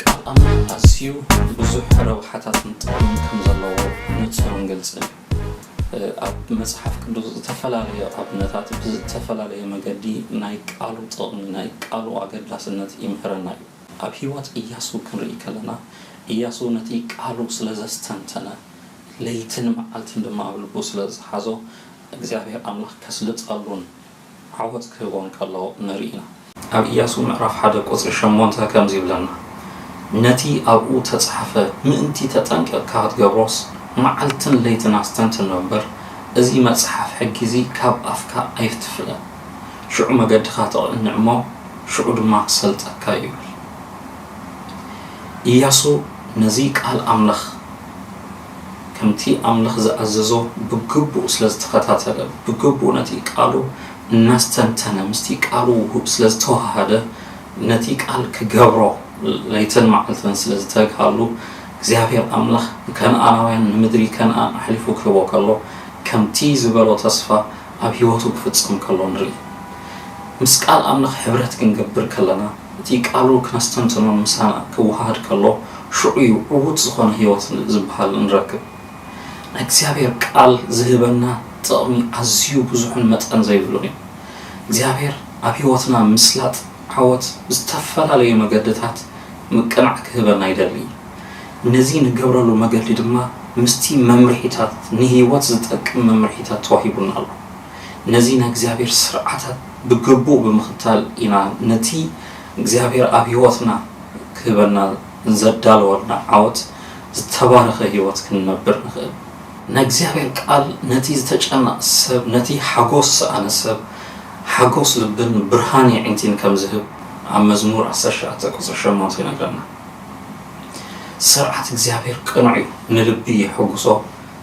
ቃል ኣምላኽ ኣዝዩ ብዙሕ ረብሓታትን ጥቕምን ከም ዘለዎ ንጹርን ግልጽን እዩ። ኣብ መጽሓፍ ቅዱስ ዝተፈላለዩ ኣብነታት ብዝተፈላለየ መገዲ ናይ ቃሉ ጥቕሚ፣ ናይ ቃሉ ኣገዳስነት ይምህረና እዩ። ኣብ ህይወት እያሱ ክንርኢ ከለና እያሱ ነቲ ቃሉ ስለ ዘስተንተነ ለይትን መዓልትን ድማ ኣብ ልቡ ስለ ዝሓዞ እግዚኣብሄር ኣምላኽ ከስልጠሉን ዓወት ክህቦን ከሎ ንርኢ ኢና። ኣብ ኢያሱ ምዕራፍ ሓደ ቍጽሪ ሸሞንተ ከምዚ ይብለና፣ ነቲ ኣብኡ እተጻሕፈ ምእንቲ ተጠንቂቕካ ኽትገብሮስ፣ መዓልትን ለይትን ኣስተንትኖ እምበር፣ እዚ መጽሓፍ ሕጊ እዚ ካብ ኣፍካ ኣይትፍለ። ሽዑ መገድኻ ትቕንዕ እሞ፣ ሽዑ ድማ ክሰልጠካ እዩ ይብል። ኢያሱ ነዚ ቃል ኣምላኽ። ከምቲ ኣምልኽ ዝኣዘዞ ብግቡእ ስለ ዝተኸታተለ፣ ብግቡእ ነቲ ቃሉ እናስተንተነ፣ ምስቲ ቃሉ ውሁብ ስለ ዝተወሃሃደ፣ ነቲ ቃል ክገብሮ ለይትን መዓልትን ስለ ዝተግሃሉ፣ እግዚኣብሄር ኣምላኽ ንከነኣናውያን ንምድሪ ከነኣን ኣሕሊፉ ክህቦ ከሎ፣ ከምቲ ዝበሎ ተስፋ ኣብ ህይወቱ ክፍጸም ከሎ ንርኢ። ምስ ቃል ኣምልኽ ሕብረት ክንገብር ከለና፣ እቲ ቃሉ ክነስተንትኖን ምሳና ክወሃሃድ ከሎ ሽዑ እዩ ዕዉት ዝኾነ ሕይወት ዝበሃል እንረክብ። ናይ እግዚኣብሔር ቃል ዝህበና ጥቕሚ ኣዝዩ ብዙሕን መጠን ዘይብሉን እዩ። እግዚኣብሔር ኣብ ሕይወትና ምስላጥ ዓወት ብዝተፈላለዩ መገድታት ምቅናዕ ክህበና ይደሊ እዩ። ነዚ ንገብረሉ መገዲ ድማ ምስቲ መምርሒታት ንሕይወት ዝጠቅም መምርሒታት ተዋሂቡና ኣሎ። ነዚ ናይ እግዚኣብሔር ስርዓታት ብግቡእ ብምኽታል ኢና ነቲ እግዚኣብሔር ኣብ ሕይወትና ክህበና ዘዳለወልና ዓወት ዝተባረኸ ሕይወት ክንነብር ንኽእል። ናይ እግዚኣብሔር ቃል ነቲ ዝተጨነቐ ሰብ ነቲ ሓጎስ ዝሰኣነ ሰብ ሓጎስ ልብን ብርሃን የዒንቲን ከም ዝህብ ኣብ መዝሙር ዓሰርተ ሸውዓተ ቁጽሪ ሸሞንተ ይነግረና። ስርዓት እግዚኣብሔር ቅኑዕ እዩ ንልቢ የሕጉሶ።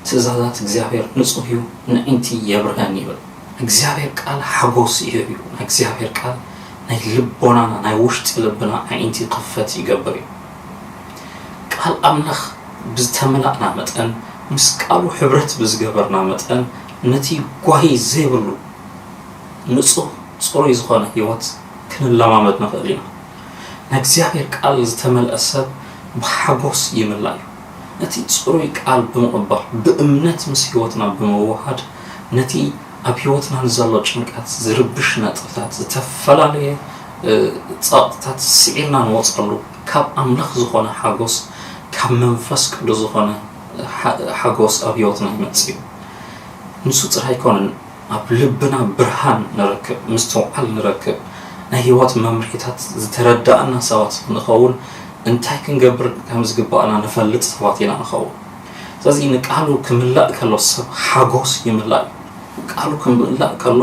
ትእዛዛት እግዚኣብሔር ንጹህ እዩ ነዒንቲ የብርሀን ይብል እግዚኣብሔር ቃል ሓጎስ ይህብ እዩ ናይ እግዚኣብሔር ቃል ናይ ልቦናና ናይ ውሽጢ ልብና ኣዒንቲ ክፈት ይገብር እዩ ቃል ኣምላኽ ብዝተመላእና መጠን ምስ ቃሉ ሕብረት ብዝገበርና መጠን ነቲ ጓሂ ዘይብሉ ንጹህ ጽሩይ ዝኾነ ሕይወት ክንለማመድ ንኽእል ኢና ናይ እግዚኣብሔር ቃል ዝተመልአ ሰብ ብሓጎስ ይምላእ እዩ ነቲ ጽሩይ ቃል ብምቕባል ብእምነት ምስ ሕይወትና ብምውህሃድ ነቲ ኣብ ሕይወትና ንዘሎ ጭንቀት ዝርብሽ ነጥብታት ዝተፈላለየ ጸቕጥታት ስዒርና ንወጸሉ ካብ ኣምላኽ ዝኾነ ሓጎስ ካብ መንፈስ ቅዱስ ዝኾነ ሓጎስ ኣብ ሕይወትና ይመጽእ እዩ ንሱ ጥራይ ኣይኮነን ኣብ ልብና ብርሃን ንረክብ፣ ምስትውዓል ንረክብ፣ ናይ ህይወት መምርሒታት ዝተረዳእና ሰባት ንኸውን፣ እንታይ ክንገብር ከም ዝግባእና ንፈልጥ ሰባት ኢና ንኸውን። ስለዚ ንቃሉ ክምላእ ከሎ ሰብ ሓጎስ ይምላእ እዩ። ቃሉ ክምላእ ከሎ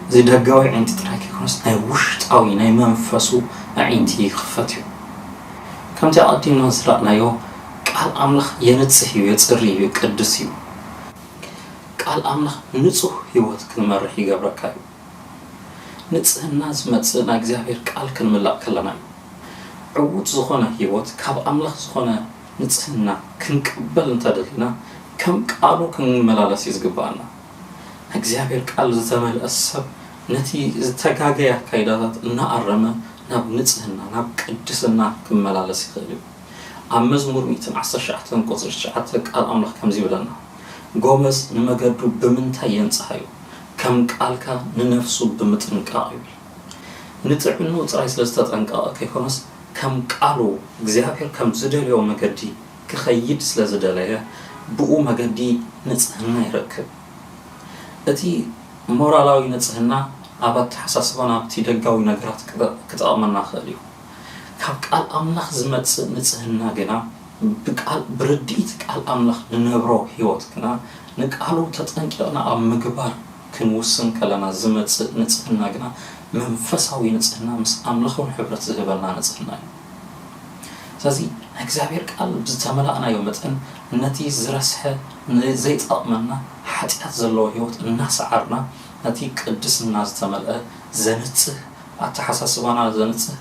እዚ ደጋዊ ኣዒንቲ ጥራይ ከይኮነስ ናይ ውሽጣዊ ናይ መንፈሱ ኣዒንቲ ይኽፈት እዩ። ከምቲ ኣቐዲምና ዝረኣናዮ ቃል ኣምላኽ የንጽህ እዩ፣ የጽሪ እዩ፣ የቀድስ እዩ። ቃል ኣምላኽ ንጹህ ህይወት ክንመርሕ ይገብረካ እዩ። ንጽህና ዝመጽእ ናይ እግዚኣብሔር ቃል ክንምላእ ከለና እዩ። ዕዉት ዝኾነ ህይወት ካብ ኣምላኽ ዝኾነ ንጽህና ክንቅበል እንተደሊና ከም ቃሉ ክንመላለስ እዩ ዝግብኣና። ናይ እግዚኣብሔር ቃል ዝተመልአ ሰብ ነቲ ዝተጋገየ ኣካይዳታት እናኣረመ ናብ ንጽህና ናብ ቅድስና ክመላለስ ይኽእል እዩ። ኣብ መዝሙር ሚእትን ዓሰርተ ትሽዓተ ቁጽሪ ትሽዓተ ቃል ኣምላኽ ከምዚ ይብለና ጎበዝ ንመገዱ ብምንታይ የንጽሃ እዩ ከም ቃልካ ንነፍሱ ብምጥንቃቕ ይብል ንጥዕንኡ ጥራይ ስለ ዝተጠንቀቐ ከይኮነስ ከም ቃሉ እግዚኣብሔር ከም ዝደልዮ መገዲ ክኸይድ ስለ ዝደለየ ብኡ መገዲ ንጽህና ይረክብ እቲ ሞራላዊ ንጽህና ኣብ ኣተሓሳስባና ኣብቲ ደጋዊ ነገራት ክጠቕመና ክእል እዩ። ካብ ቃል ኣምላኽ ዝመጽእ ንጽህና ግና ብቃል ብርድኢት ቃል ኣምላኽ ንነብሮ ሕይወት ግና ንቃሉ ተጠንቂቕና ኣብ ምግባር ክንውስን ከለና ዝመጽእ ንጽህና ግና መንፈሳዊ ንጽህና ምስ ኣምላኽውን ሕብረት ዝህበና ንጽህና እዩ ስለዚ ናይ እግዚኣብሔር ቃል ብዝተመላእናዮ መጠን ነቲ ዝረስሐ ንዘይጠቕመና ሓጢኣት ዘለዎ ሕይወት እናሰዓርና ነቲ ቅድስና ዝተመልአ ዘንጽህ ኣተሓሳስባና ዘንጽህ፣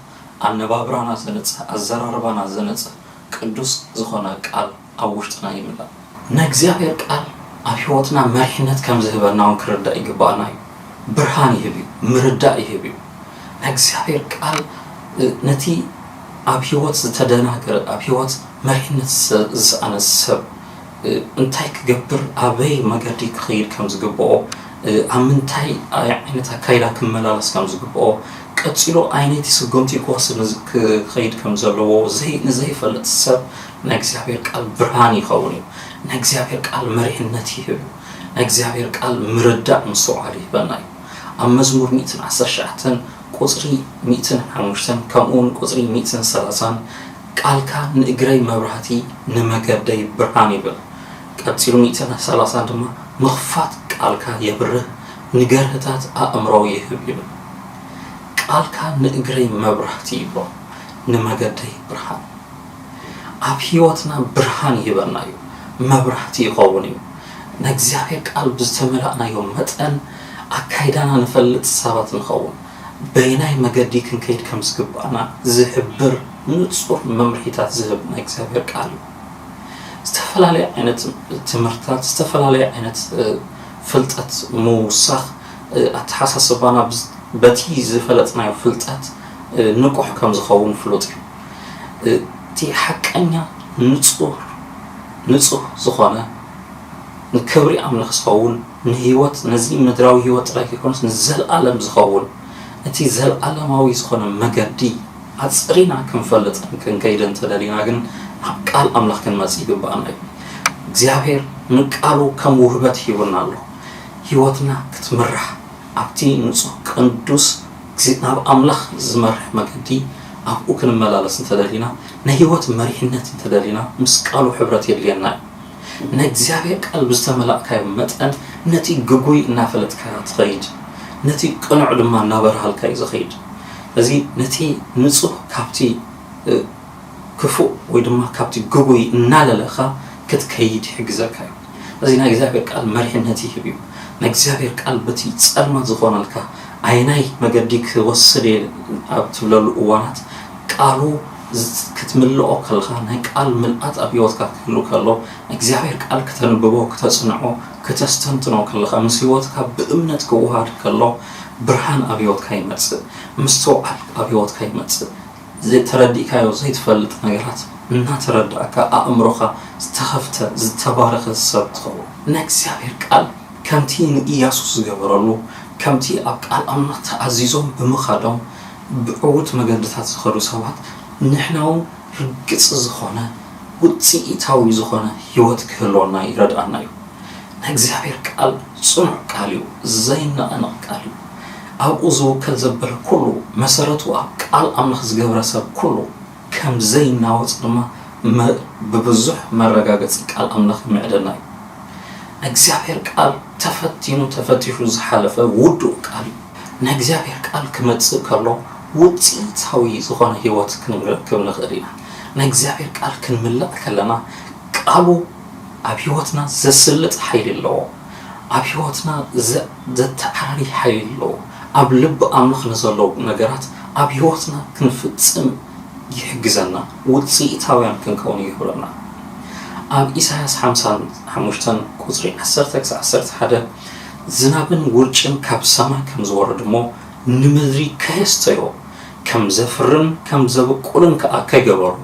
ኣነባብራና ዘንጽህ፣ ኣዘራርባና ዘንጽህ ቅዱስ ዝኾነ ቃል ኣብ ውሽጥና ይምላእ። ናይ እግዚኣብሔር ቃል ኣብ ሕይወትና መሪሕነት ከም ዝህበና እውን ክርዳእ ይግብኣና እዩ። ብርሃን ይህብ እዩ። ምርዳእ ይህብ እዩ። ናይ እግዚኣብሔር ቃል ነቲ ኣብ ሕይወት ዝተደናገረ፣ ኣብ ሕይወት መሪሕነት ዝሰኣነ ሰብ፣ እንታይ ክገብር ኣበይ መገዲ ክኸይድ ከም ዝግብኦ፣ ኣብ ምንታይ ዓይነት ኣካይዳ ክመላለስ ከም ዝግብኦ፣ ቀጺሉ ኣይነይቲ ስጉምቲ ክወስድ ክኸይድ ከም ዘለዎ ንዘይፈልጥ ሰብ ናይ እግዚኣብሔር ቃል ብርሃን ይኸውን እዩ። ናይ እግዚኣብሔር ቃል መሪሕነት ይህብ እዩ። ናይ እግዚኣብሔር ቃል ምርዳእ ምስትውዓል ይህበና እዩ። ኣብ መዝሙር ሚእትን ዓሰርተ ትሽዓተን ቁጽሪ ሚእትን ሓሙሽተን ከምኡውን ቁጽሪ ሚእትን ሰላሳን ቃልካ ንእግረይ መብራህቲ ንመገደይ ብርሃን ይብል ቀጺሉ ሚእትን ሰላሳን ድማ ምኽፋት ቃልካ የብርህ ንገርህታት ኣእምሮ ይህብ ይብል ቃልካ ንእግረይ መብራህቲ ይብሎ ንመገደይ ብርሃን ኣብ ሕይወትና ብርሃን ይህበና እዩ መብራህቲ ይኸውን እዩ ነእግዚኣብሔር ቃል ብዝተመላእናዮ መጠን ኣካይዳና ንፈልጥ ሰባት ንኸውን በየናይ መገዲ ክንከይድ ከም ዝግብኣና ዝሕብር ንጹር መምርሒታት ዝህብ ናይ እግዚኣብሔር ቃል እዩ። ዝተፈላለየ ዓይነት ትምህርትታት፣ ዝተፈላለየ ዓይነት ፍልጠት ምውሳኽ ኣተሓሳስባና በቲ ዝፈለጥናዮ ፍልጠት ንቁሕ ከም ዝኸውን ፍሉጥ እዩ። እቲ ሓቀኛ ንጹር ንጹህ ዝኾነ ንክብሪ ኣምልኽ ዝኸውን ንህይወት ነዚ ምድራዊ ህይወት ጥራይ ከይኮነስ ንዘልኣለም ዝኸውን እቲ ዘልኣለማዊ ዝኾነ መገዲ ኣጽሪና ክንፈልጥን ክንከይድን እንተደሊና ግን ናብ ቃል ኣምላኽ ክንመጽእ ይግብኣና እዩ። እግዚኣብሔር ንቃሉ ከም ውህበት ሂቡና ኣሎ። ህይወትና ክትምራሕ ኣብቲ ንጹህ ቅዱስ እግዚ ናብ ኣምላኽ ዝመርሕ መገዲ ኣብኡ ክንመላለስ እንተደሊና ንህይወት መሪሕነት እንተደሊና ምስ ቃሉ ሕብረት የድልየና እዩ። ናይ እግዚኣብሔር ቃል ብዝተመላእካዮ መጠን ነቲ ግጉይ እናፈለጥካዮ ትኸይድ ነቲ ቅኑዕ ድማ እናበርሃልካ እዩ ዝኸይድ እዚ ነቲ ንጹህ ካብቲ ክፉእ ወይ ድማ ካብቲ ግጉይ እናለለኻ ክትከይድ ይሕግዘካ እዩ እዚ ናይ እግዚኣብሔር ቃል መሪሕነት ይህብ እዩ ናይ እግዚኣብሔር ቃል በቲ ጸልማት ዝኾነልካ ኣየናይ መገዲ ክወስድ እየ ኣብ ትብለሉ እዋናት ቃሉ ክትምልኦ ከለኻ ናይ ቃል ምልኣት ኣብ ህይወትካ ክህሉ ከሎ እግዚኣብሔር ቃል ክተንብቦ ክተጽንዖ ክተስተንትኖ ከለኻ ምስ ህይወትካ ብእምነት ክወሃድ ከሎ ብርሃን ኣብ ህይወትካ ይመጽእ ምስትውዓል ኣብ ህይወትካ ይመጽእ ተረዲእካዮ ዘይትፈልጥ ነገራት እናተረዳእካ ኣእምሮኻ ዝተኸፍተ ዝተባረኸ ሰብ ትኸውን ናይ እግዚኣብሔር ቃል ከምቲ ንኢያሱ ዝገበረሉ ከምቲ ኣብ ቃል ኣምላኽ ተኣዚዞም ብምኻዶም ብዕዉት መገድታት ዝኸዱ ሰባት ንሕና'ውን ርግጽ ዝኾነ ውጽኢታዊ ዝኾነ ህይወት ክህልወና ይረድኣና እዩ። ናይ እግዚኣብሔር ቃል ጽኑዕ ቃል እዩ፣ ዘይነቐነቕ ቃል እዩ። ኣብኡ ዝውከል ዘበለ ኩሉ፣ መሰረቱ ኣብ ቃል ኣምላኽ ዝገብረ ሰብ ኩሉ ከም ዘይናወጽ ድማ ብብዙሕ መረጋገጺ ቃል ኣምላኽ ይምዕደና እዩ። ናይ እግዚኣብሔር ቃል ተፈቲኑ ተፈቲሹ ዝሓለፈ ውዱእ ቃል እዩ። ናይ እግዚኣብሔር ቃል ክመጽእ ከሎ ውጽኢታዊ ዝኾነ ሕይወት ክንረክብ ንኽእል ኢና። ናይ እግዚኣብሔር ቃል ክንምልእ ከለና ቃሉ ኣብ ሕይወትና ዘስልጥ ሓይሊ ኣለዎ። ኣብ ሕይወትና ዘተዓራሪ ሓይሊ ኣለዎ። ኣብ ልቢ ኣምላኽ ንዘሎ ነገራት ኣብ ሕይወትና ክንፍጽም ይሕግዘና ውጽኢታውያን ክንከውን ይገብረና። ኣብ ኢሳያስ ሓምሳን ሓሙሽተን ቁጽሪ ዓሰርተ ክሳዕ ዓሰርተ ሓደ ዝናብን ውርጭን ካብ ሰማይ ከም ዝወርድ እሞ ንምድሪ ከየስተዮ፣ ከም ዘፍርን ከም ዘብቁልን ከኣ ከይገበሮ፣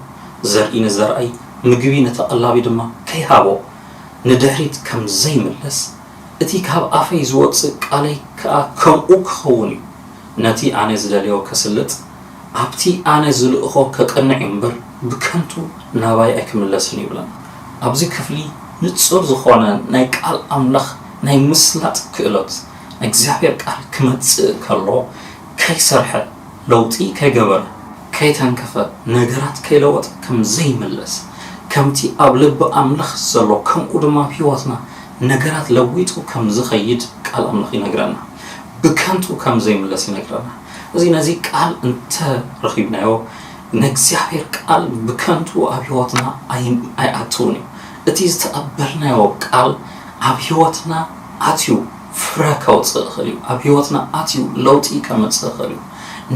ዘርኢ ንዘርኣይ፣ ምግቢ ንተቐላቢ ድማ ከይሃቦ፣ ንድሕሪት ከም ዘይምለስ፣ እቲ ካብ ኣፈይ ዝወጽእ ቃለይ ከኣ ከምኡ ክኸውን እዩ፣ ነቲ ኣነ ዝደልዮ ከስልጥ፣ ኣብቲ ኣነ ዝልእኾ ከቅንዕ እዩ እምበር ብከንቱ ናባይ ኣይክምለስን እዩ ይብለን። ኣብዚ ክፍሊ ንጹር ዝኾነ ናይ ቃል ኣምላኽ ናይ ምስላጥ ክእለት ናይ እግዚኣብሔር ቃል ክመጽእ ከሎ ከይሰርሐ ለውጢ ከይገበረ ከይተንከፈ ነገራት ከይለወጠ ከም ዘይምለስ ከምቲ ኣብ ልቢ ኣምላኽ ዘሎ ከምኡ ድማ ኣብ ሕይወትና ነገራት ለዊጡ ከም ዝኸይድ ቃል ኣምላኽ ይነግረና ብከንቱ ከም ዘይምለስ ይነግረና። እዚ ነዚ ቃል እንተ ረኺብናዮ ናይ እግዚኣብሔር ቃል ብከንቱ ኣብ ሕይወትና ኣይኣትውን እዩ እቲ ዝተቐበልናዮ ቃል ኣብ ሕይወትና ኣትዩ ፍረ ከውፅእ እኽእል እዩ ኣብ ሕይወትና ኣትዩ ለውጢ ከመፅእ እኽእል እዩ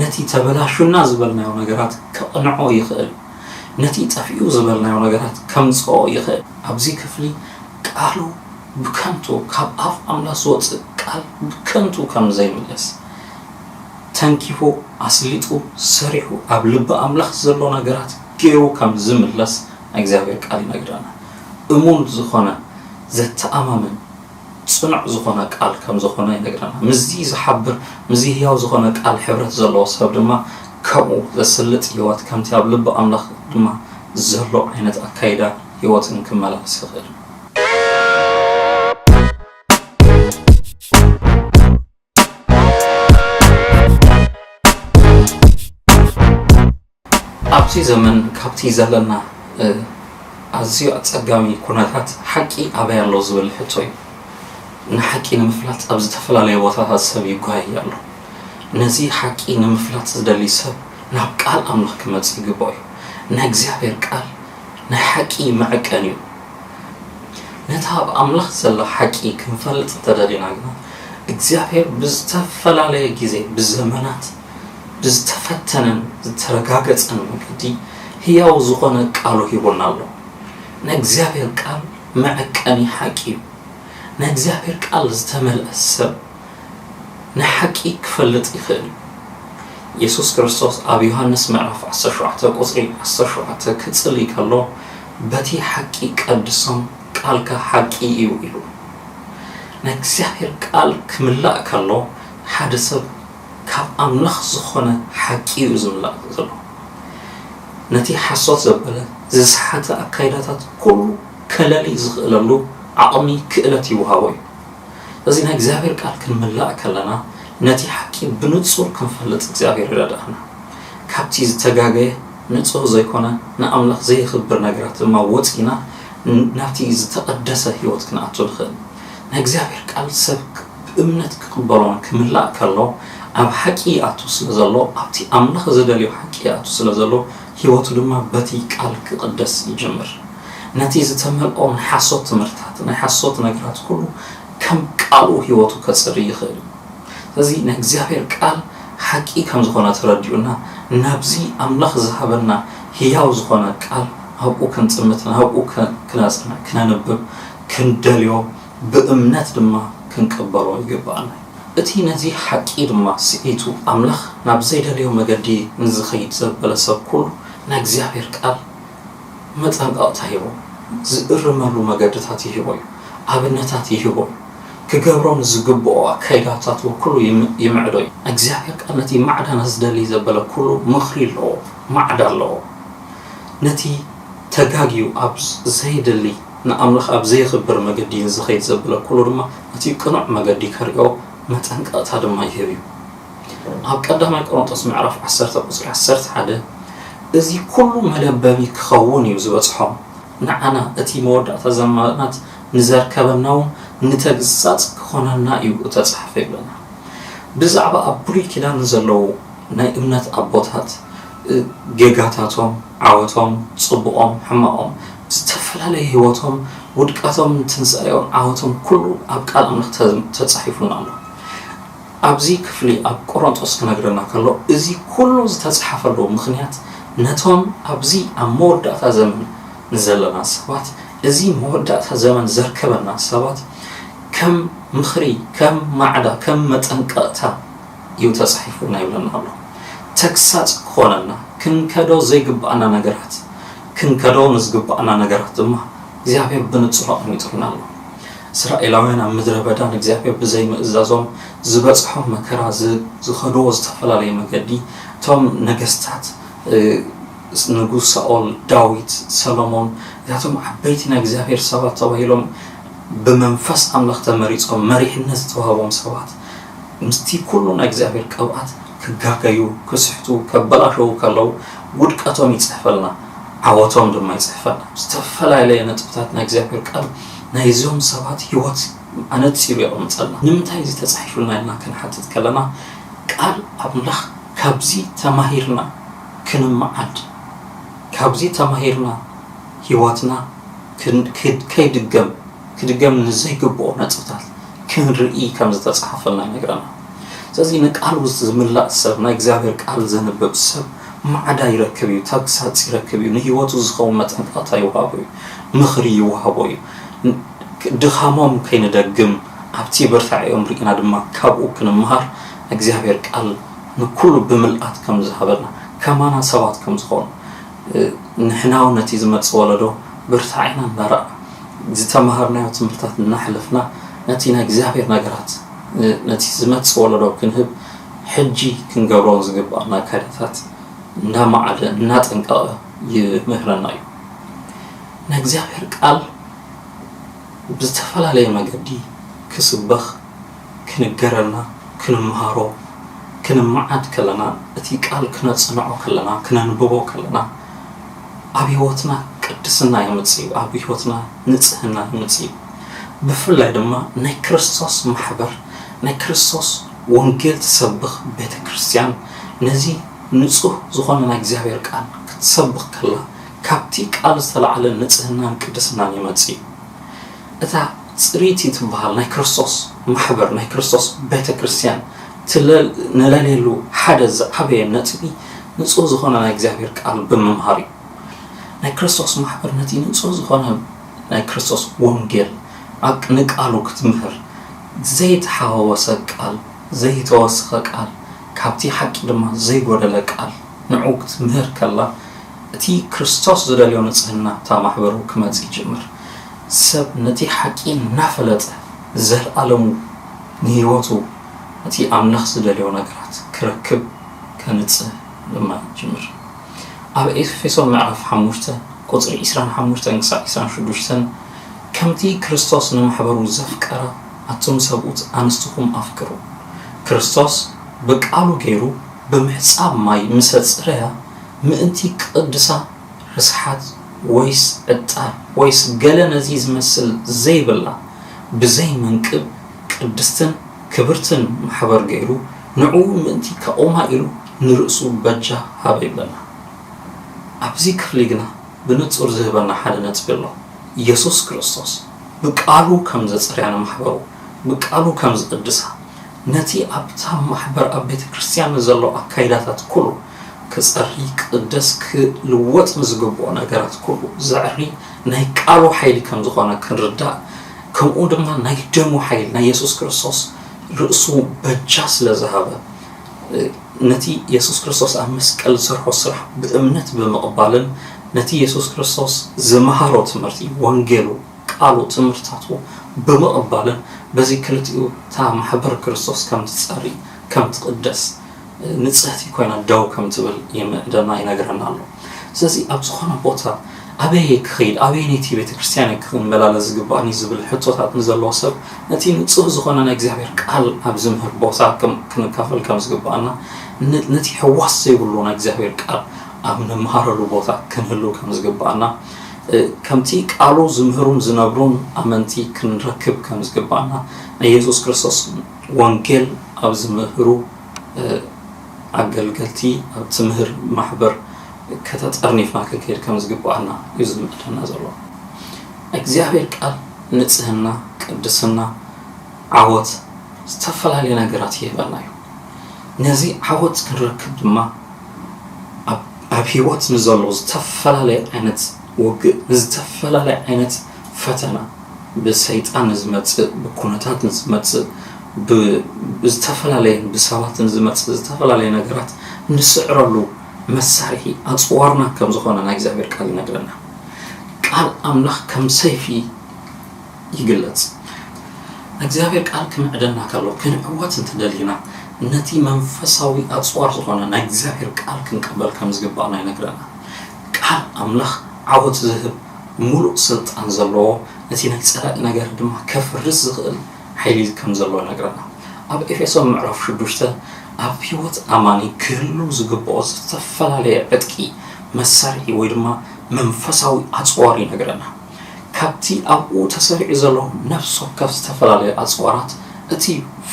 ነቲ ተበላሹና ዝበልናዮ ነገራት ከቕንዖ ይኽእል እዩ ነቲ ጠፊኡ ዝበልናዮ ነገራት ከምፅኦ ይኽእል ኣብዚ ክፍሊ ቃሉ ብከንቱ ካብ ኣፍ ኣምላኽ ዝወጽእ ቃል ብከንቱ ከም ዘይምለስ ተንኪፉ ኣስሊጡ ሰሪሑ ኣብ ልቢ ኣምላኽ ዘሎ ነገራት ጌሩ ከም ዝምለስ ናይ እግዚኣብሔር ቃል ይነግረና። እሙን ዝኾነ ዘተኣማምን ጽኑዕ ዝኾነ ቃል ከም ዝኾነ ይነግረና። ምስዚ ዝሓብር ምስዚ ህያው ዝኾነ ቃል ሕብረት ዘለዎ ሰብ ድማ ከምኡ ዘስልጥ ህይወት ከምቲ ኣብ ልቢ ኣምላኽ ድማ ዘሎ ዓይነት ኣካይዳ ህይወትን ክመላለስ ይኽእል። ኣብዚ ዘመን ካብቲ ዘለና ኣዝዩ ኣጸጋሚ ኩነታት ሓቂ ኣበይ ኣሎ ዝብል ሕቶ እዩ። ንሓቂ ንምፍላጥ ኣብ ዝተፈላለየ ቦታታት ሰብ ይጓየ ኣሎ። ነዚ ሓቂ ንምፍላጥ ዝደሊ ሰብ ናብ ቃል ኣምላኽ ክመጽእ ይግብኦ እዩ። ናይ እግዚኣብሔር ቃል ናይ ሓቂ መዐቀኒ እዩ። ነቲ ኣብ ኣምላኽ ዘሎ ሓቂ ክንፈልጥ እንተ ደሊና ግና፣ እግዚኣብሄር ብዝተፈላለየ ግዜ ብዘመናት ብዝተፈተነን ዝተረጋገጸን መንገዲ ህያው ዝዀነ ቃሉ ሂቡና ኣሎ። ናይ እግዚኣብሄር ቃል መዐቀኒ ሓቂ እዩ። ናይ እግዚኣብሄር ቃል ዝተመልአ ሰብ፣ ንሓቂ ክፈልጥ ይኽእል እዩ። የሱስ ክርስቶስ ኣብ ዮሃንስ ምዕራፍ ዓሰርተ ሸውዓተ ቁጽሪ ዓሰርተ ሸውዓተ ክጽሊ ከሎ በቲ ሓቂ ቀድሶም ቃልካ ሓቂ እዩ ኢሉ። ናይ እግዚኣብሔር ቃል ክምላእ ከሎ ሓደ ሰብ ካብ ኣምላኽ ዝኾነ ሓቂ እዩ ዝምላእ ዘሎ። ነቲ ሓሶት ዘበለ ዝሰሓተ ኣካይዳታት ኩሉ ከለሊ ዝኽእለሉ ዓቕሚ ክእለት ይውሃቦ እዩ። እዚ ናይ እግዚኣብሔር ቃል ክንምላእ ከለና ነቲ ሓቂ ብንጹር ክንፈልጥ እግዚኣብሔር ይረድኣና። ካብቲ ዝተጋገየ ንጹህ ዘይኮነ ንኣምላኽ ዘየኽብር ነገራት ድማ ወጺእና ናብቲ ዝተቐደሰ ሕይወት ክንኣቱ ንኽእል። ናይ እግዚኣብሔር ቃል ሰብ ብእምነት ክቕበሎን ክምላእ ከሎ ኣብ ሓቂ ይኣቱ ስለ ዘሎ ኣብቲ ኣምላኽ ዝደልዮ ሓቂ ይኣቱ ስለ ዘሎ ሕይወቱ ድማ በቲ ቃል ክቕደስ ይጅምር። ነቲ ዝተመልኦ ናይ ሓሶት ትምህርትታት፣ ናይ ሓሶት ነገራት ኩሉ ከም ቃሉ ህይወቱ ከጽሪ ይኽእል እዩ። ስለዚ ናይ እግዚኣብሔር ቃል ሓቂ ከም ዝኾነ ተረዲኡና ናብዚ ኣምላኽ ዝሃበና ህያው ዝኾነ ቃል ኣብኡ ክንጥምት ናብኡ ክነጽንዕ ክነንብብ ክንደልዮ ብእምነት ድማ ክንቅበሎ ይግብኣና እዩ። እቲ ነዚ ሓቂ ድማ ስሒቱ ኣምላኽ ናብ ዘይደልዮ መገዲ ንዝኸይድ ዘበለ ሰብ ኩሉ ናይ እግዚኣብሔር ቃል መጠንቐቕታ ሂቡ፣ ዝእርመሉ መገድታት ይህቦ እዩ፣ ኣብነታት ይህቦ እዩ፣ ክገብሮም ዝግብኦ ኣካይዳታት ወክሉ ይምዕዶ እዩ። ናይ እግዚኣብሔር ቃል ነቲ ማዕዳና ዝደሊ ዘበለ ኩሉ ምኽሪ ኣለዎ፣ ማዕዳ ኣለዎ። ነቲ ተጋግዩ ኣብ ዘይደሊ ንኣምላኽ ኣብ ዘየኽብር መገዲ ንዝኸይድ ዘበለ ኩሉ ድማ ነቲ ቅኑዕ መገዲ ከርእዮ መጠንቐቕታ ድማ ይህብ እዩ። ኣብ ቀዳማይ ቆሮንቶስ ምዕራፍ ዓሰርተ ቁጽሪ ዓሰርተ ሓደ እዚ ኩሉ መለበሚ ክኸውን እዩ ዝበጽሖም ንዓና እቲ መወዳእታ ዘማናት ንዘርከበና እውን ንተግሳጽ ክኾነና እዩ እተጻሕፈ ይብለና ብዛዕባ ኣብ ብሉይ ኪዳን ንዘለዉ ናይ እምነት ኣቦታት ጌጋታቶም ዓወቶም ጽቡቆም ሕማቆም ዝተፈላለየ ህይወቶም ውድቀቶም ትንሳኤኦም ዓወቶም ኩሉ ኣብ ቃል ኣምላኽ ተጻሒፉና ኣሎ ኣብዚ ክፍሊ ኣብ ቆሮንጦስ ክነግረና ከሎ እዚ ኩሉ ዝተጽሓፈሉ ምኽንያት ነቶም ኣብዚ ኣብ መወዳእታ ዘመን ንዘለና ሰባት እዚ መወዳእታ ዘመን ዘርከበና ሰባት ከም ምኽሪ ከም ማዕዳ ከም መጠንቀቕታ እዩ ተጻሒፉልና ይብለና ኣሎ ተግሳጽ ክኾነና ክንከዶ ዘይግብኣና ነገራት ክንከዶ ንዝግብኣና ነገራት ድማ እግዚኣብሄር ብንጹር ኣቐሚጡልና ኣሎ። እስራኤላውያን ኣብ ምድረ በዳ ንእግዚኣብሄር ብዘይ ምእዛዞም ዝበጽሖም መከራ ዝኸድዎ ዝተፈላለየ መገዲ እቶም ነገስታት ንጉስ ሳኦል ዳዊት ሰሎሞን እዚኣቶም ዓበይቲ ናይ እግዚኣብሄር ሰባት ተባሂሎም ብመንፈስ ኣምላኽ ተመሪጾም መሪሕነት ዝተዋህቦም ሰባት ምስቲ ኩሉ ናይ እግዚኣብሔር ቅብኣት ክጋገዩ ክስሕቱ ከበላሸዉ ከለዉ ውድቀቶም ይጽሕፈልና ዓወቶም ድማ ይጽሕፈልና ብዝተፈላለየ ነጥብታት ናይ እግዚኣብሔር ቃል ናይ እዞም ሰባት ሕይወት ኣነጺሩ የቐምጠልና ንምንታይ እዚ ተጻሒፉልና ኢልና ክንሓትት ከለና ቃል ኣምላኽ ካብዚ ተማሂርና ክንመዓድ ካብዚ ተማሂርና ሕይወትና ከይድገም ክድገም ንዘይግብኦ ነጥብታት ክንርኢ ከም ዝተጻሕፈልና ይነግረና። ስለዚ ንቃሉ ዝምላእ ሰብ፣ ናይ እግዚኣብሔር ቃል ዘንብብ ሰብ ማዕዳ ይረክብ እዩ፣ ተግሳጽ ይረክብ እዩ፣ ንህይወቱ ዝኸውን መጠንቀቕታ ይወሃቦ እዩ፣ ምኽሪ ይወሃቦ እዩ። ድኻሞም ከይንደግም ኣብቲ ብርታዔኦም ርኢና ድማ ካብኡ ክንመሃር እግዚኣብሔር ቃል ንኩሉ ብምልኣት ከም ዝሃበና ከማና ሰባት ከም ዝኾኑ ንሕናውን ነቲ ዝመጽእ ወለዶ ብርታዐ ኢና እንበርዕ። ዝተመሃርናዮ ትምህርታት እናሕለፍና ነቲ ናይ እግዚኣብሔር ነገራት ነቲ ዝመጽእ ወለዶ ክንህብ ሕጂ ክንገብሮም ዝግብኣና ኣካይዳታት እናመዓደ እናጠንቀቐ ይምህረና እዩ። ናይ እግዚኣብሔር ቃል ብዝተፈላለየ መገዲ ክስበኽ፣ ክንገረና ክንመሃሮ ክንመዓድ ከለና እቲ ቃል ክነጽንዖ ከለና ክነንብቦ ከለና ኣብ ህይወትና ቅድስና የምጽእዩ ኣብ ህይወትና ንጽህና የምጽእዩ ብፍላይ ድማ ናይ ክርስቶስ ማሕበር ናይ ክርስቶስ ወንጌል ትሰብኽ ቤተ ክርስትያን ነዚ ንጹህ ዝኾነ ናይ እግዚኣብሔር ቃል ክትሰብኽ ከላ ካብቲ ቃል ዝተላዕለ ንጽህናን ቅድስናን ይመጽእዩ እታ ጽርይቲ ትበሃል ናይ ክርስቶስ ማሕበር፣ ናይ ክርስቶስ ቤተ ክርስቲያን ነለልየሉ ሓደ ዝዓበየ ነጥቢ ንጹህ ዝኾነ ናይ እግዚኣብሔር ቃል ብምምሃር እዩ። ናይ ክርስቶስ ማሕበር ነቲ ንጹህ ዝኾነ ናይ ክርስቶስ ወንጌል ኣብ ንቃሉ ክትምህር ዘይተሓዋወሰ ቃል ዘይተወስኸ ቃል ካብቲ ሓቂ ድማ ዘይጎደለ ቃል ንዑ ክትምህር ከላ እቲ ክርስቶስ ዝደልዮ ንጽህና ኣብታ ማሕበሩ ክመጽእ ይጅምር። ሰብ ነቲ ሓቂ እናፈለጠ ንዘልኣለሙ ንህይወቱ ነቲ ኣምላኽ ዝደልዮ ነገራት ክረክብ ከንጽህ ድማ ይጅምር። ኣብ ኤፌሶን ምዕራፍ ሓሙሽተ ቁጽሪ ዕስራን ሓሙሽተን ክሳዕ ዕስራን ሽዱሽተን ከምቲ ክርስቶስ ንማሕበሩ ዘፍቀረ ኣቱም ሰብኡት ኣንስትኹም ኣፍቅሩ ክርስቶስ ብቃሉ ገይሩ ብምሕጻብ ማይ ምሰ ጽረያ ምእንቲ ክቕድሳ ርስሓት ወይስ ዕጣን ወይስ ገለ ነዚ ዚመስል ዘይብላ ብዘይ መንቅብ ቅድስትን ክብርትን ማሕበር ገይሩ ንዕኡ ምእንቲ ከቑማ ኢሉ ንርእሱ በጃ ሃበ ይብለና። ኣብዚ ክፍሊ ግና ብንጹር ዚህበና ሓደ ነጥቢ ኣሎ፣ የሱስ ክርስቶስ ብቃሉ ከም ዘጽርያ ንማሕበሩ ብቃሉ ከም ዚቕድሳ ነቲ ኣብታ ማሕበር ኣብ ቤተ ክርስትያን ንዘሎ ኣካይዳታት ኩሉ ክጸሪ ክቅደስ ክልወጥ ንዝግብኦ ነገራት ኩሉ ዘዕሪ ናይ ቃሉ ሓይሊ ከም ዝኾነ ክንርዳእ ከምኡ ድማ ናይ ደሙ ሓይሊ ናይ የሱስ ክርስቶስ ርእሱ በጃ ስለ ዝሃበ ነቲ የሱስ ክርስቶስ ኣብ መስቀል ዝሰርሖ ስራሕ ብእምነት ብምቕባልን ነቲ የሱስ ክርስቶስ ዝመሃሮ ትምህርቲ ወንጌሉ ቃሉ ትምህርታቱ ብምቕባልን በዚ ክልቲኡ እታ ማሕበር ክርስቶስ ከም ትጸሪ ከም ትቅደስ ንጽህቲ ኮይና ደው ከም ትብል ደማ ይነግረና ኣሎ። ስለዚ ኣብ ዝኾነ ቦታ ኣበይ እየ ክኸይድ፣ ኣበየነይቲ ቤተ ክርስቲያን እየ ክመላለስ ዝግባእኒ ዝብል ሕቶታት ንዘለዎ ሰብ ነቲ ንጹህ ዝኾነ ናይ እግዚኣብሔር ቃል ኣብ ዝምህር ቦታ ክንካፈል ከም ዝግባእና ነቲ ሕዋስ ዘይብሉ ናይ እግዚኣብሔር ቃል ኣብ ንመሃረሉ ቦታ ክንህሉ ከም ዝግባእና ከምቲ ቃሉ ዝምህሩን ዝነብሩን ኣመንቲ ክንረክብ ከም ዝግባእና ናይ የሱስ ክርስቶስ ወንጌል ኣብ ዝምህሩ ኣገልገልቲ ኣብ ትምህር ማሕበር ከተጠርኒፍና ክንከይድ ከም ዝግብኣና እዩ ዝምእደና ዘሎ። ናይ እግዚኣብሔር ቃል ንጽህና፣ ቅድስና፣ ዓወት ዝተፈላለየ ነገራት ይህበና እዩ። ነዚ ዓወት ክንረክብ ድማ ኣብ ኣብ ህይወት ንዘሎ ዝተፈላለየ ዓይነት ውግእ ንዝተፈላለየ ዓይነት ፈተና ብሰይጣን ዝመጽእ ብኩነታት ዝመጽእ ብዝተፈላለየ ብሰባትን ዝመጽእ ዝተፈላለየ ነገራት ንስዕረሉ መሳርሒ ኣጽዋርና ከም ዝኾነ ናይ እግዚኣብሔር ቃል ይነግረና። ቃል ኣምላኽ ከም ሰይፊ ይግለጽ። እግዚኣብሔር ቃል ክምዕደና ከሎ ክንዕወት እንተደሊና ነቲ መንፈሳዊ ኣጽዋር ዝኾነ ናይ እግዚኣብሔር ቃል ክንቅበል ከም ዝግባእና ይነግረና። ቃል ኣምላኽ ዓወት ዝህብ ምሉእ ስልጣን ዘለዎ፣ ነቲ ናይ ጸላኢ ነገር ድማ ከፍርስ ዝኽእል ሓይሊ ከም ዘለዎ ይነግረና። ኣብ ኤፌሶን ምዕራፍ ሽዱሽተ ኣብ ህይወት ኣማኒ ክህሉ ዝግብኦ ዝተፈላለየ ዕጥቂ፣ መሳርሒ ወይ ድማ መንፈሳዊ ኣጽዋር ይነግረና። ካብቲ ኣብኡ ተሰሪዑ ዘሎ ነፍሲ ወከፍ ዝተፈላለየ ኣጽዋራት እቲ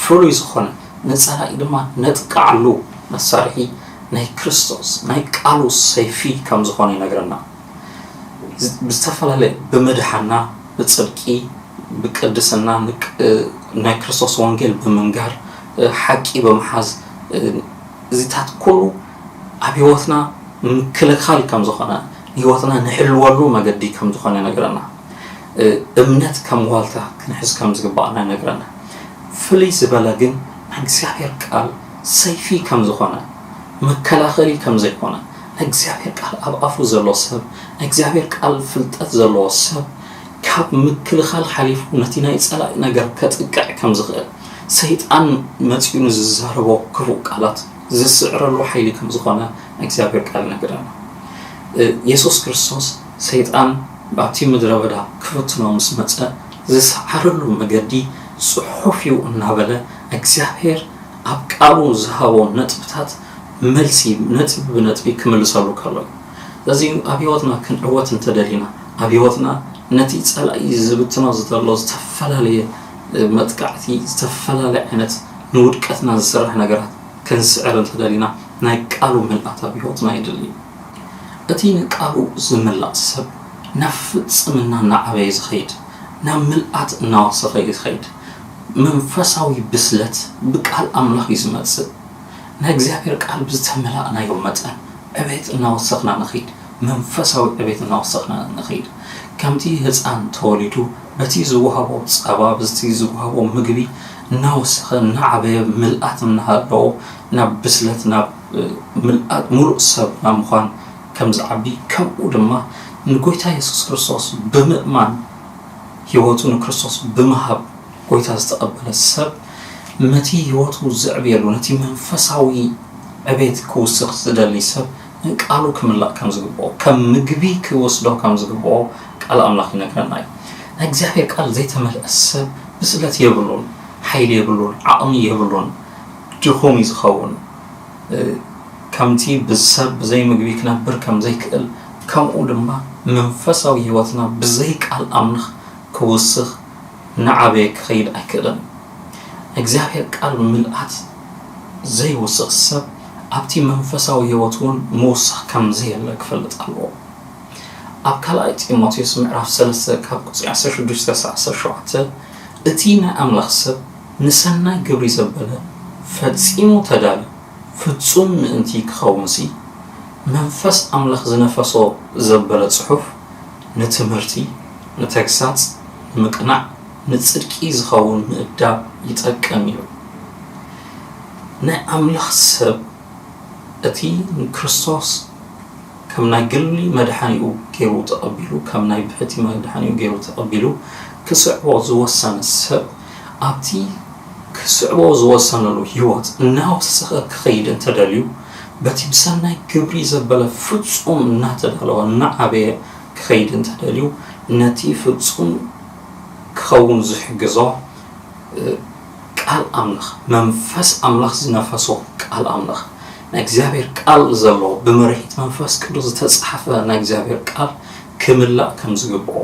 ፍሉይ ዝኾነ ንጸላኢ ድማ ነጥቅዓሉ መሳርሒ ናይ ክርስቶስ ናይ ቃሉ ሰይፊ ከም ዝኾነ ይነግረና። ብዝተፈላለየ ብምድሓና ብጽድቂ ብቅድስና ናይ ክርስቶስ ወንጌል ብምንጋር ሓቂ ብምሓዝ እዚታት ኩሉ ኣብ ህይወትና ምክልኻል ከም ዝኾነ ህይወትና ንሕልወሉ መገዲ ከም ዝኾነ ይነግረና። እምነት ከም ዋልታ ክንሕዝ ከም ዝግባኣና ይነግረና። ፍልይ ዝበለ ግን ናይ እግዚኣብሔር ቃል ሰይፊ ከም ዝኾነ መከላኸሊ ከም ዘይኮነ ናይ እግዚኣብሔር ቃል ኣብ ኣፉ ዘሎ ሰብ ናይ እግዚኣብሔር ቃል ፍልጠት ዘለዎ ሰብ ካብ ምክልኻል ሓሊፉ ነቲ ናይ ጸላኢ ነገር ከጥቅዕ ከም ዝኽእል ሰይጣን መጺኡ ንዝዛረቦ ክፉእ ቃላት ዝስዕረሉ ሓይሊ ከም ዝኾነ ናይ እግዚኣብሔር ቃል ይነግረና የሱስ ክርስቶስ ሰይጣን ኣብቲ ምድረ በዳ ክፍትኖ ምስ መጸ ዝሰዓረሉ መገዲ ጽሑፍ እዩ እናበለ እግዚኣብሔር ኣብ ቃሉ ዝሃቦ ነጥብታት መልሲ ነጥቢ ብነጥቢ ክምልሰሉ ከሎ እዩ። ስለዚ ኣብ ህይወትና ክንዕወት እንተደሊና ኣብ ህይወትና ነቲ ጸላኢ ዝብትኖ ዘሎ ዝተፈላለየ መጥቃዕቲ ዝተፈላለየ ዓይነት ንውድቀትና ዝስራሕ ነገራት ክንስዕር እንተደሊና ናይ ቃሉ ምልኣት ኣብ ህይወትና የድሊ እዩ። እቲ ንቃሉ ዝምላእ ሰብ ናብ ፍጽምና እናዓበየ ዝኸይድ ናብ ምልኣት እናወሰኸ እዩ ዝኸይድ። መንፈሳዊ ብስለት ብቃል ኣምላኽ እዩ ዝመጽእ። ናይ እግዚኣብሔር ቃል ብዝተመላእናዮ መጠን ዕቤት እናወሰኽና ንኺድ፣ መንፈሳዊ ዕቤት እናወሰኽና ንኺድ። ከምቲ ህጻን ተወሊዱ በቲ ዝወሃቦ ጸባ ብዝቲ ዝወሃቦ ምግቢ እናወሰኸ እናዓበየ ምልኣት እናሃለዎ ናብ ብስለት ናብ ምልኣት ሙሉእ ሰብ ናብ ምዃን ከምዝዓቢ ከምኡ ድማ ንጎይታ የሱስ ክርስቶስ ብምእማን ህይወቱ ንክርስቶስ ብምሃብ ጐይታ ዝተቐበለ ሰብ፣ ነቲ ህይወቱ ዘዕብየሉ፣ ነቲ መንፈሳዊ ዕቤት ክውስኽ ዝደሊ ሰብ፣ ንቃሉ ክምላእ ከም ዝግብኦ፣ ከም ምግቢ ክወስዶ ከም ዝግብኦ ቃል ኣምላኽ ይነግረና እዩ። ናይ እግዚኣብሔር ቃል ዘይተመልአ ሰብ ብስለት የብሉን፣ ሓይሊ የብሉን፣ ዓቕሚ የብሉን፣ ድኹም እዩ ዝኸውን። ከምቲ ሰብ ብዘይ ምግቢ ክነብር ከም ዘይክእል፣ ከምኡ ድማ መንፈሳዊ ህይወትና ብዘይ ቃል ኣምላኽ ክውስኽ እናዓበየ ክኸይድ ኣይክእልን። ናይ እግዚኣብሔር ቃል ምልኣት ዘይውስኽ ሰብ ኣብቲ መንፈሳዊ ህይወቱ እውን ምውሳኽ ከም ዘየለ ክፈልጥ ኣለዎ። ኣብ ካልኣይ ጢሞቴዎስ ምዕራፍ ሰለስተ ካብ ቁጽሪ ዓሰርተ ሽዱሽተ ክሳዕ ዓሰርተ ሸውዓተ እቲ ናይ ኣምላኽ ሰብ ንሰናይ ግብሪ ዘበለ ፈጺሙ ተዳልዩ ፍጹም ምእንቲ ኪኸውንሲ፣ መንፈስ ኣምላኽ ዝነፈሶ ዘበለ ጽሑፍ ንትምህርቲ፣ ንተግሳጽ፣ ንምቅናዕ፣ ንጽድቂ ዚኸውን ምእዳብ ይጠቅም እዩ። ናይ ኣምላኽ ሰብ እቲ ንክርስቶስ ከም ናይ ግሊ መድሓኒኡ ገይሩ ተቐቢሉ፣ ከም ናይ ብሕቲ መድሓኒኡ ገይሩ ተቐቢሉ ኪስዕቦ ዝወሰነ ሰብ፣ ኣብቲ ኺስዕቦ ዝወሰነሉ ህይወት እናወሰኸ ኪኸይድ እንተ ደልዩ፣ በቲ ብሰናይ ግብሪ ዘበለ ፍጹም እናተዳለወ እናዓበየ ኪኸይድ እንተ ደልዩ፣ ነቲ ፍጹም ኪኸውን ዚሕግዞ ቃል ኣምላኽ፣ መንፈስ ኣምላኽ ዝነፈሶ ቃል ኣምላኽ፣ ናይ እግዚኣብሄር ቃል ዘለዎ፣ ብመርሒት መንፈስ ቅዱስ ዝተጻሕፈ ናይ እግዚኣብሄር ቃል ክምላእ ከም ዝግብኦ፣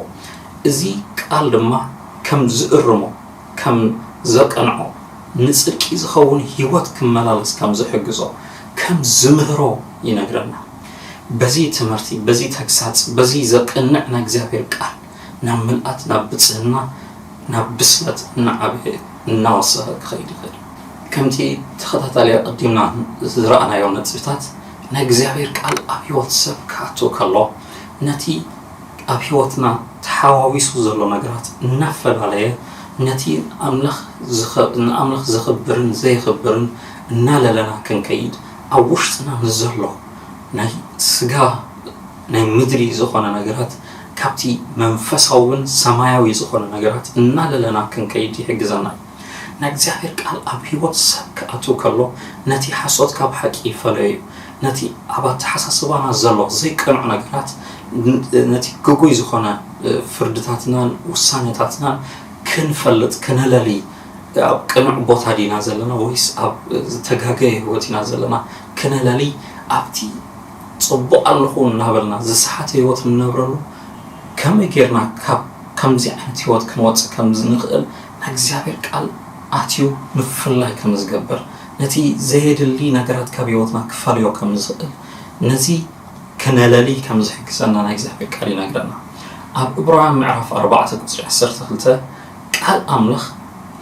እዚ ቃል ድማ ከም ዝእርሞ፣ ከም ዘቅንዖ፣ ንጽድቂ ዝኸውን ህይወት ክመላለስ ከም ዝሕግዞ፣ ከም ዝምህሮ ይነግረና። በዚ ትምህርቲ፣ በዚ ተግሳጽ፣ በዚ ዘቅንዕ ናይ እግዚኣብሔር ቃል ናብ ምልኣት፣ ናብ ብጽህና፣ ናብ ብስለት እናዓበየ እናወሰኸ ክኸይድ ይኽእል። ከምቲ ተኸታታሊ ኣቐዲምና ዝረኣናዮ ነጥብታት፣ ናይ እግዚኣብሔር ቃል ኣብ ህይወት ሰብ ክኣቱ ከሎ፣ ነቲ ኣብ ሕይወትና ተሓዋዊሱ ዘሎ ነገራት እናፈላለየ ነቲ ንኣምላኽ ዘኽብርን ዘየኽብርን እናለለና ክንከይድ ኣብ ውሽጥና ንዘሎ ናይ ሥጋ ናይ ምድሪ ዝኾነ ነገራት ካብቲ መንፈሳውን ሰማያዊ ዝኾነ ነገራት እናለለና ክንከይድ ይሕግዘና እዩ። ናይ እግዚኣብሔር ቃል ኣብ ሕይወት ሰብ ክኣትው ከሎ ነቲ ሓሶት ካብ ሓቂ ይፈለዮ እዩ። ነቲ ኣብ ኣተሓሳስባና ዘሎ ዘይቅኑዕ ነገራት ነቲ ግጉይ ዝኾነ ፍርድታትናን ውሳኔታትናን ክንፈልጥ ክነለሊ ኣብ ቅኑዕ ቦታ ዲና ዘለና ወይስ ኣብ ዝተጋገየ ሕይወት ኢና ዘለና ክነለሊ ኣብቲ ጽቡቕ ኣለኹ እናበልና ዝሰሓተ ሕይወት ንነብረሉ ከመይ ጌርና ካብ ከምዚ ዓይነት ሕይወት ክንወጽእ ከምዝንኽእል ናይ እግዚኣብሔር ቃል ኣትዩ ምፍላይ ከም ዝገብር፣ ነቲ ዘየድሊ ነገራት ካብ ሕይወትና ክፈልዮ ከም ዝኽእል፣ ነዚ ክነለሊ ከም ዝሕግዘና ናይ እግዚኣብሔር ቃል ይነግረና። ኣብ ዕብራውያን ምዕራፍ ኣርባዕተ ቁጽሪ ዓሰርተ ክልተ ቃል ኣምላኽ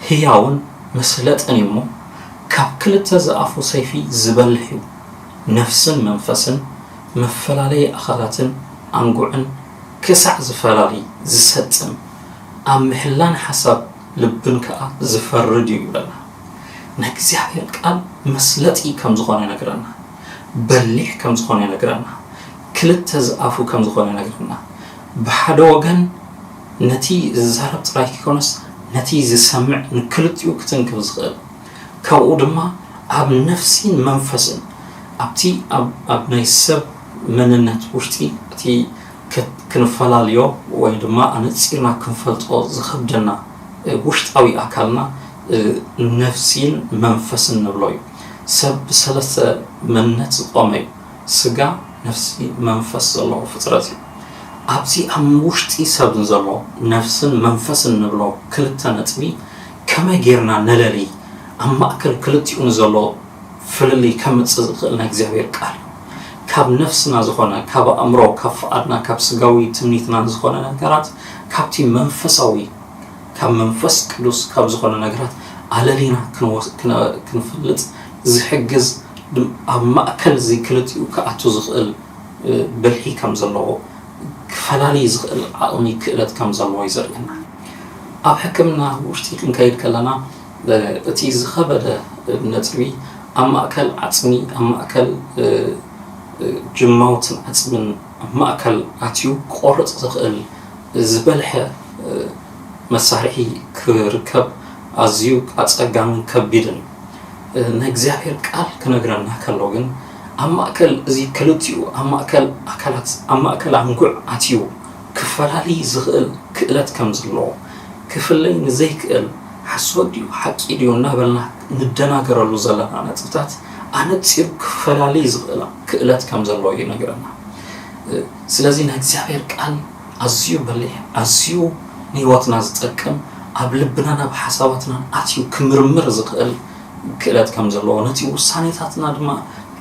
ሕያውን መሰለጥን እዩ እሞ ካብ ክልተ ዝኣፉ ሰይፊ ዝበልሕ እዩ፣ ነፍስን መንፈስን፣ መፈላለዪ ኣካላትን ኣንጉዕን ክሳዕ ዝፈላሊ፣ ዝሰጥም፣ ኣብ ምሕላን ሓሳብ ልብን ከኣ ዚፈርድ እዩ ይብለና። ናይ እግዚኣብሔር ቃል መስለጢ ከም ዝኾነ ይነግረና። በሊሕ ከም ዝኾነ ይነግረና። ክልተ ዝኣፉ ከም ዝኾነ ይነግረና። ብሓደ ወገን ነቲ ዚዛረብ ጥራይ ከይኮነስ ነቲ ዚሰምዕ ንክልቲኡ ክትንክፍ ዝኽእል ካብኡ ድማ ኣብ ነፍሲን መንፈስን ኣብቲ ኣብ ናይ ሰብ መንነት ውሽጢ እቲ ክንፈላልዮ ወይ ድማ ኣነጺርና ክንፈልጦ ዝኸብደና ውሽጣዊ ኣካልና ነፍሲን መንፈስን ንብሎ እዩ። ሰብ ብሰለስተ መንነት ዝቖመ እዩ። ስጋ፣ ነፍሲ፣ መንፈስ ዘለዎ ፍጥረት እዩ። ኣብዚ ኣብ ውሽጢ ሰብ ንዘሎ ነፍስን መንፈስን ንብሎ ክልተ ነጥቢ ከመይ ጌርና ነለልይ? ኣብ ማእከል ክልቲኡ ንዘሎ ፍልልይ ከምጽእ ዝኽእል ናይ እግዚኣብሔር ቃል እዩ። ካብ ነፍስና ዝኾነ፣ ካብ ኣእምሮ፣ ካብ ፍቓድና፣ ካብ ስጋዊ ትምኒትና ዝኾነ ነገራት ካብቲ መንፈሳዊ፣ ካብ መንፈስ ቅዱስ ካብ ዝኾነ ነገራት ኣለሊና ክንፈልጥ ዝሕግዝ ኣብ ማእከል እዚ ክልቲኡ ክኣቱ ዝኽእል ብልሒ ከም ዘለዎ፣ ክፈላሊ ዝኽእል ዓቕሚ ክእለት ከም ዘለዎ እዩ ዘርእየና። ኣብ ሕክምና ውሽጢ ክንከይድ ከለና፣ እቲ ዝኸበደ ነጥቢ ኣብ ማእከል ዓጽሚ፣ ኣብ ማእከል ጅማውትን ዓጽምን ኣብ ማእከል ኣትዩ ክቖርጽ ዝኽእል ዝበልሐ መሳርሒ ክርከብ ኣዝዩ ኣጸጋምን ከቢድን ናይ እግዚኣብሔር ቃል ክነግረና ከሎ ግን ኣብ ማእከል እዚ ክልቲኡ ኣብ ማእከል ኣካላት ኣብ ማእከል ኣንጉዕ ኣትዩ ክፈላልይ ዝኽእል ክእለት ከም ዘለዎ፣ ክፍለይ ንዘይክእል ሓሶት ድዩ ሓቂ ድዩ እናበልና ንደናገረሉ ዘለና ነጥብታት ኣነጺሩ ክፈላልይ ዝኽእል ክእለት ከም ዘለዎ ይነግረና። ስለዚ ናይ እግዚኣብሔር ቃል ኣዝዩ በሊሕ ኣዝዩ ንሕይወትና ዝጠቅም ኣብ ልብናን ኣብ ሓሳባትናን ኣትዩ ክምርምር ዝኽእል ክእለት ከም ዘለዎ ነቲ ውሳኔታትና ድማ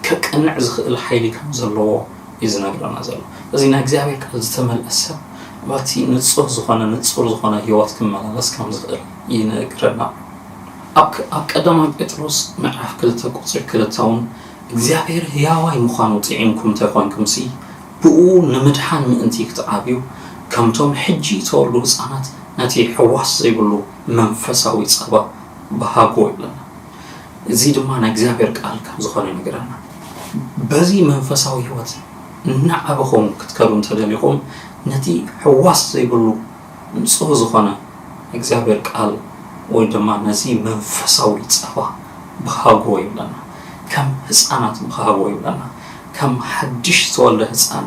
ከቅንዕ ዝኽእል ሓይሊ ከም ዘለዎ እዩ ዝነግረና ዘሎ እዚ ናይ እግዚኣብሔር ቃል ዝተመልአ ሰብ በቲ ንጹህ ዝኾነ ንጹር ዝኾነ ህይወት ክመላለስ ከም ዝኽእል ይነግረና ኣብ ቀዳማዊ ጴጥሮስ ምዕራፍ ክልተ ቁፅሪ ክልተ እውን እግዚኣብሔር ህያዋይ ምዃኑ ጥዒምኩም እንተይኮንኩምሲ ብኡ ንምድሓን ምእንቲ ክትዓብዩ ከምቶም ሕጂ ተወልዱ ህፃናት ነቲ ሕዋስ ዘይብሉ መንፈሳዊ ፀባ ብሃጎ ይብለና እዚ ድማ ናይ እግዚኣብሔር ቃል ካብ ዝኾነ ይነግረና። በዚ መንፈሳዊ ህይወት እናዓበኹም ክትከዱ እንተደሊኹም ነቲ ሕዋስ ዘይብሉ ንጹህ ዝኾነ እግዚኣብሔር ቃል ወይ ድማ ነዚ መንፈሳዊ ጸባ ብሃግዎ ይብለና። ከም ህፃናት ብሃግዎ ይብለና። ከም ሓድሽ ዝተወልደ ህፃን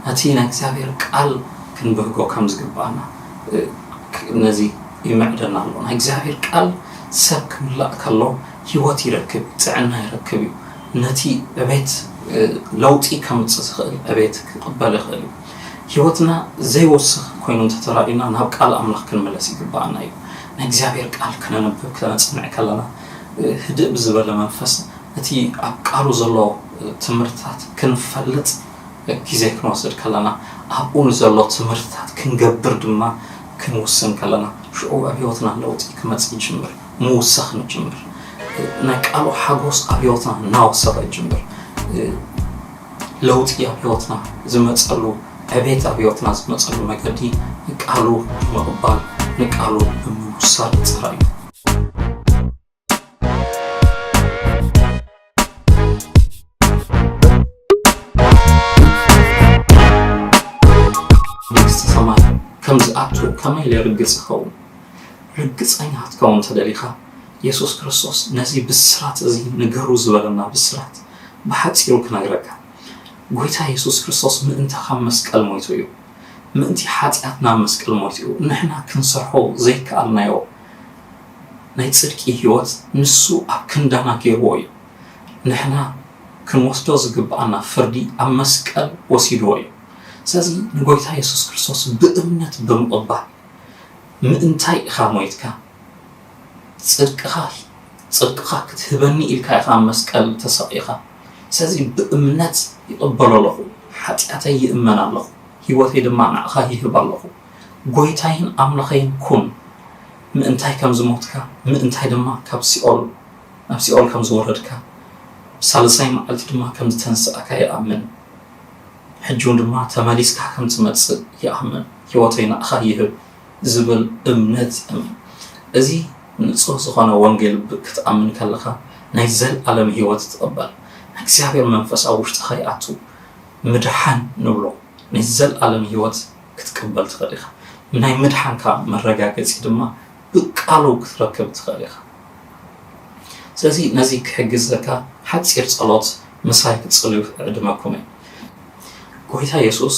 ነቲ ናይ እግዚኣብሔር ቃል ክንብህጎ ከም ዝግባና ነዚ ይምዕደና ኣሎ። ናይ እግዚኣብሔር ቃል ሰብ ክምላእ ከሎ ህይወት ይረክብ፣ ጥዕና ይረክብ እዩ። ነቲ ዕቤት ለውጢ ከምጽእ ዝኽእል ዕቤት ክቕበል ይኽእል እዩ። ህይወትና ዘይወስኽ ኮይኑ እንተ ተራእዩና ናብ ቃል ኣምላኽ ክንምለስ ይግብኣና እዩ። ናይ እግዚኣብሔር ቃል ከነንብብ ከነጽንዕ ከለና ህድእ ብዝበለ መንፈስ እቲ ኣብ ቃሉ ዘሎ ትምህርትታት ክንፈልጥ ግዜ ክንወስድ ከለና ኣብኡ ንዘሎ ትምህርትታት ክንገብር ድማ ክንውስን ከለና ሽዑ ኣብ ህይወትና ለውጢ ክመጽእ ይጅምር ምውሳኽ ንጅምር ናይ ቃሉ ሓጎስ ኣብ ህይወትና እናወሰኸ ይጅምር ለውጢ ኣብ ህይወትና ዝመጸሉ ዕቤት ኣብ ህይወትና ዝመጸሉ መገዲ ቃሉ ምቕባል ንቃሉ ብምውሳድ ጥራይ እዩ መንግስቲ ሰማይ ከም ዝኣቱ ከመይ ኢለ ርግጽ ይኸውን? ርግጸኛ ክትከውን እንተደሊኻ፣ የሱስ ክርስቶስ ነዚ ብስራት እዚ ንገሩ ዝበለና ብስራት ብሓጺሩ ክነግረካ። ጐይታ የሱስ ክርስቶስ ምእንቲ ካብ መስቀል ሞይቱ እዩ። ምእንቲ ሓጢኣትና ኣብ መስቀል ሞይቱ እዩ። ንሕና ክንሰርሖ ዘይከኣልናዮ ናይ ጽድቂ ሕይወት ንሱ ኣብ ክንዳና ገይርዎ እዩ። ንሕና ክንወስዶ ዝግብኣና ፍርዲ ኣብ መስቀል ወሲድዎ እዩ። ስለዚ ንጐይታ የሱስ ክርስቶስ ብእምነት ብምቕባል ምእንታይ ኢኻ ሞይትካ? ጽድቅኻ ጽድቅኻ ክትህበኒ ኢልካ ኢኻ ኣብ መስቀል ተሰቒኻ። ስለዚ ብእምነት ይቕበሎ ኣለኹ፣ ሓጢኣተይ ይእመን ኣለኹ፣ ሕይወተይ ድማ ንኣኻ ይህብ ኣለኹ። ጐይታይን ኣምላኸይን ኩን። ምእንታይ ከም ዝሞትካ፣ ምእንታይ ድማ ካብ ሲኦል ናብ ሲኦል ከም ዝወረድካ፣ ብሳልሳይ መዓልቲ ድማ ከም ዝተንስእካ ይኣምን። ሕጂውን ድማ ተመሊስካ ከም ትመጽእ ይኣምን። ህይወተይ ንኣኻ ይህብ ዝብል እምነት እመን። እዚ ንጹህ ዝኾነ ወንጌል ብ ክትኣምን ከለኻ ናይ ዘልኣለም ህይወት ትቕበል። ናይ እግዚኣብሔር መንፈስ ኣብ ውሽጥኻ ይኣቱ ምድሓን ንብሎ ናይ ዘልኣለም ህይወት። ክትቅበል ትኽእል ኢኻ። ናይ ምድሓንካ መረጋገጺ ድማ ብቃሉ ክትረክብ ትኽእል ኢኻ። ስለዚ ነዚ ክሕግዘካ ሓጺር ጸሎት ምሳይ ክትጽልዩ እዕድመኩም እየ። ጎይታ የሱስ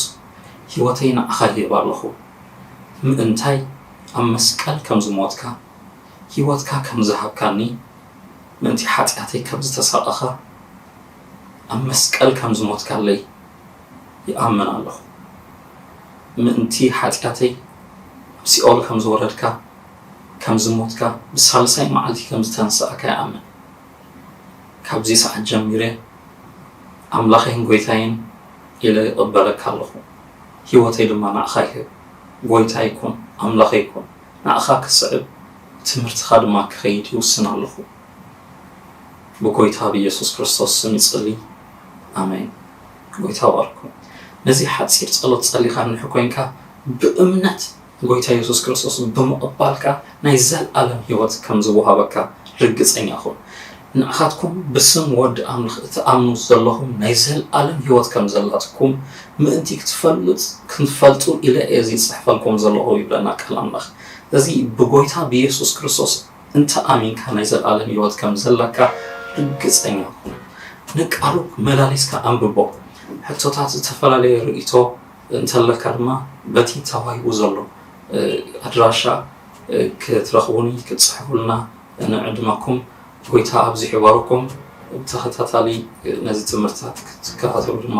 ህይወተይ ንዓኻ ይህብ ኣለኹ። ምእንታይ ኣብ መስቀል ከም ዝሞትካ፣ ህይወትካ ከም ዝሃብካኒ፣ ምእንቲ ሓጢኣተይ ከም ዝተሳቐኻ፣ ኣብ መስቀል ከም ዝሞትካለይ፣ ይኣምን ኣለኹ። ምእንቲ ሓጢኣተይ ኣብ ሲኦል ከም ዝወረድካ፣ ከም ዝሞትካ፣ ብሳልሳይ መዓልቲ ከም ዝተንስኣካ ይኣምን። ካብዚ ሰዓት ጀሚረ ኣምላኸይን ጎይታይን ኢለ ይቕበለካ ኣለኹ። ህይወተይ ድማ ንኣኻ ይህብ። ጎይታይ ኩን፣ ኣምላኸይ ኩን። ንኣኻ ክስዕብ፣ ትምህርትኻ ድማ ክኸይድ ይውስን ኣለኹ። ብጎይታ ብየሱስ ክርስቶስ ስም ይጽሊ ኣሜን ጎይታ ይባርኩም ነዚ ሓጺር ጸሎት ጸሊካ ንንሕ ኮንካ ብእምነት ንጎይታ የሱስ ክርስቶስ ብምቕባልካ ናይ ዘልኣለም ሂወት ከም ዝወሃበካ ርግጸኛ ኩን ንዓካትኩም ብስም ወዲ ኣምልኽ እትኣምኑ ዘለኹም ናይ ዘልኣለም ሂወት ከም ዘላትኩም ምእንቲ ክትፈልጥ ክንፈልጡ ኢለ እየ እዚ ጽሕፈልኩም ዘለኹ ይብለና ቃል ኣምልኽ እዚ ብጎይታ ብየሱስ ክርስቶስ እንተ ኣሚንካ ናይ ዘለኣለም ህይወት ከም ዘለካ ርግጸኛ ኩን። ንቃሉ መላሊስካ ኣንብቦ። ሕቶታት ዝተፈላለየ ርእይቶ እንተለካ ድማ በቲ ተዋሂቡ ዘሎ ኣድራሻ ክትረኽቡኒ ክትጽሕፉልና ንዕድመኩም ጎይታ ኣብዚሑ ይባርኩም። ብተኸታታሊ ነዚ ትምህርትታት ክትከታተሉ ድማ